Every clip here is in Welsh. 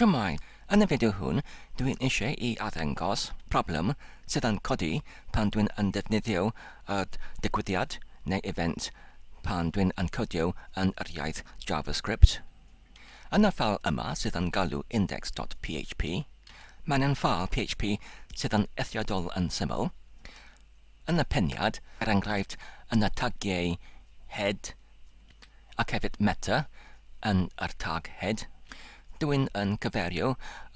Shwmae, yn y fideo hwn dw i'n eisiau i arddangos problem sydd yn codi pan dwi'n yn defnyddio yr digwyddiad neu event pan dwi'n yn codio yn yr iaith JavaScript. Yn y ffeil yma sydd yn galw index.php, mae'n yn ffeil PHP sydd yn eithriadol yn syml. Yn y peniad, er enghraifft yn y tagiau head, ac hefyd Meta yn yr tag head, dw i'n yn cyferio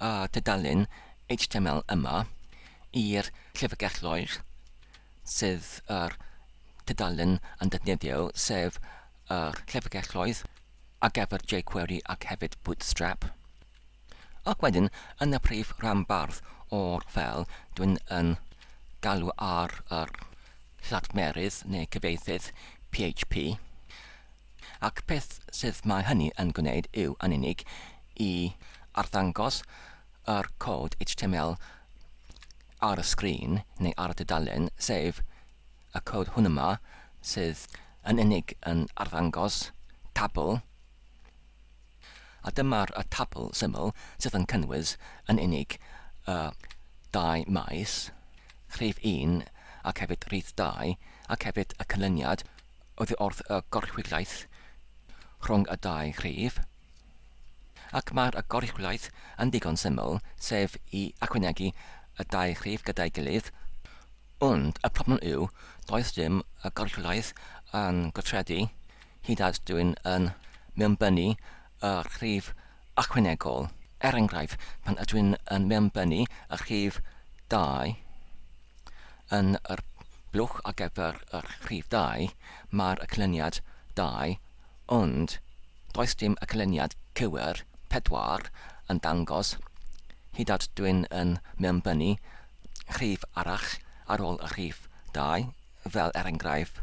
y tudalen html yma i'r llyfrgell loer sydd yr tudalen yn defnyddio, sef yr llyfrgelloedd ar gyfer jQuery ac hefyd Bootstrap. Ac wedyn yn y prif ranbarth o'r fel dwi'n yn galw ar yr lladmerydd neu gyfieithydd PHP, ac peth sydd mae hynny yn gwneud yw yn unig i arddangos yr cod html ar y sgrin neu ar y dudalen, sef y cod hwn yma sydd yn unig yn arddangos tabl, A dyma'r tabl syml sydd yn cynnwys yn unig y dau maes, rhif un ac hefyd rhif dau, ac hefyd y canlyniad oddi wrth y goruchwyliaeth rhwng y dau rhif. Ac mae'r goruchwyliaeth yn ddigon syml, sef i ychwanegu y dau rhif gyda'i gilydd, ond y problem yw does dim goruchwyliaeth yn gweithredu hyd at dwyn yn mewnbynnu y rhif ychwanegol. Er enghraifft, pan ydwyn yn mewnbynnu y rhif 2 yn yr blwch ar gyfer yr rhif 2, mae'r yclyniad 2, ond does dim yclyniad cywir, 4, yn dangos, hyd at dwyn yn mewnbynnu rhif arall ar ôl y rhif 2, fel er enghraifft,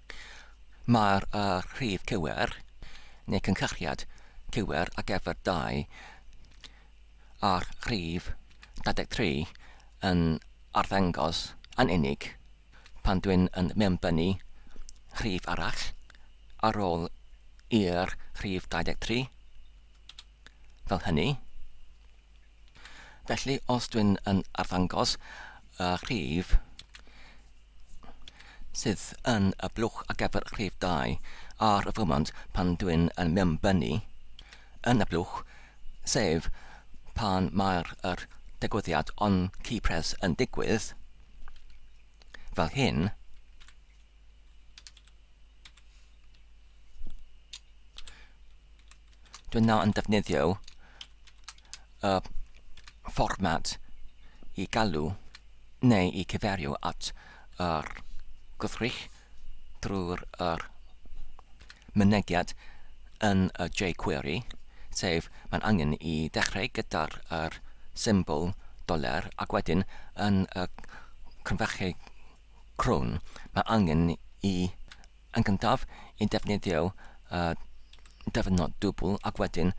Mae'r rhif cywir, neu cynhyrchiad cywir ar gyfer 2 a'r rhif 23 yn arddangos yn unig pan dwi'n yn mewnbynnu rhif arall ar ôl i'r rhif 23, fel hynny. Felly, os dwi'n yn arddangos y rhif sydd yn y blwch ar gyfer rhif 2 ar y fwmant pan dwi'n yn mewnbynnu yn y blwch, sef pan mae'r yr digwyddiad on key press yn digwydd, fel hyn, Dwi'n nawr yn defnyddio y fformat i galw neu i cyfeirio at yr gwrthrych drwy'r yr mynediad yn y jQuery, sef mae'n angen i ddechrau gyda'r yr symbol doler ac wedyn yn y crynfechau crwn mae angen i Yn gyntaf, y defnyddio y dyfnod dwbl ac wedyn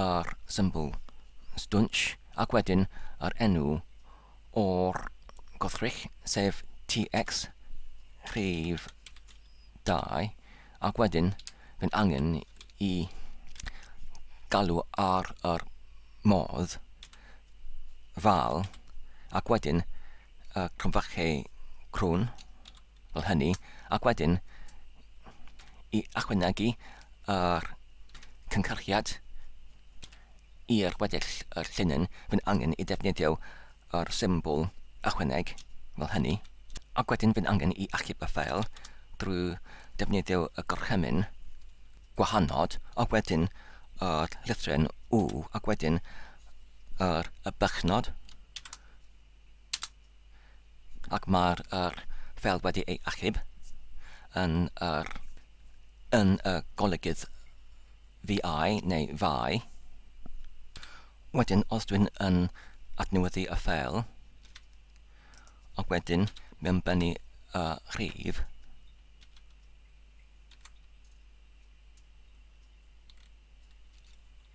yr symbol stwnsh ac wedyn yr enw o'r gwrthrych, sef TX rhif 2 ac wedyn fydd angen i galw ar yr modd val ac wedyn y cromfache crwn. fel hynny, ac wedyn i ychwanegu yr cynhyrchiad i'r weddill yr llinyn, fy'n angen i defnyddio yr symbol ychwaneg fel hynny, ac wedyn fy'n angen i achub y ffeil drwy defnyddio y gorchymyn gwahanod, ac wedyn yr llythryn U, ac wedyn yr y bychnod ac mae'r yr ffel wedi ei achub yn yr yn y golygydd VI neu VI. Wedyn, os dwi'n yn adnewyddu y ffel, ac wedyn mewn bennu y rhif,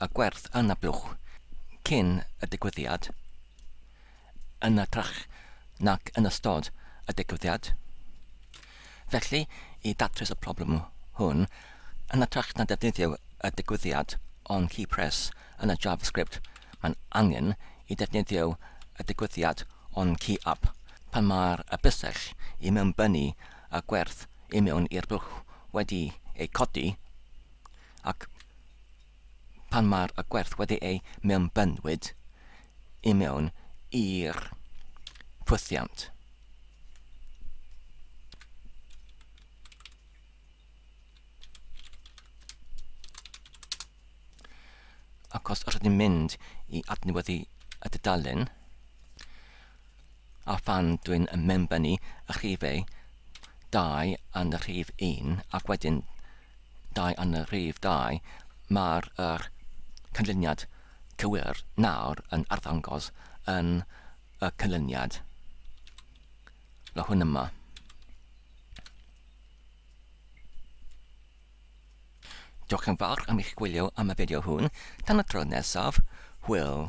a gwerth anablwch cyn y digwyddiad, yn hytrach nac yn ystod y digwyddiad. Felly, i ddatrys y problem hwn, yn hytrach na defnyddio y digwyddiad o'n key press yn y JavaScript, mae'n angen i ddefnyddio y digwyddiad o'n key up pan mae'r y bysell i mewnbynnu y gwerth i mewn i'r blwch wedi ei codi. ac pan mae'r y gwerth wedi ei mewnbynwyd i mewn i'r ffwythiant. Ac os rydyn mynd i adnewyddu y dudalen, a phan dwi'n mewnbynnu y rhifau, dau yn y rhif un ac wedyn dau yn y rhif dau, mae'r yr canlyniad cywir nawr yn arddangos yn y canlyniad, mae hwn yma. Diolch yn fawr am eich gwylio am y fideo hwn. Tan y tro nesaf, hwyl!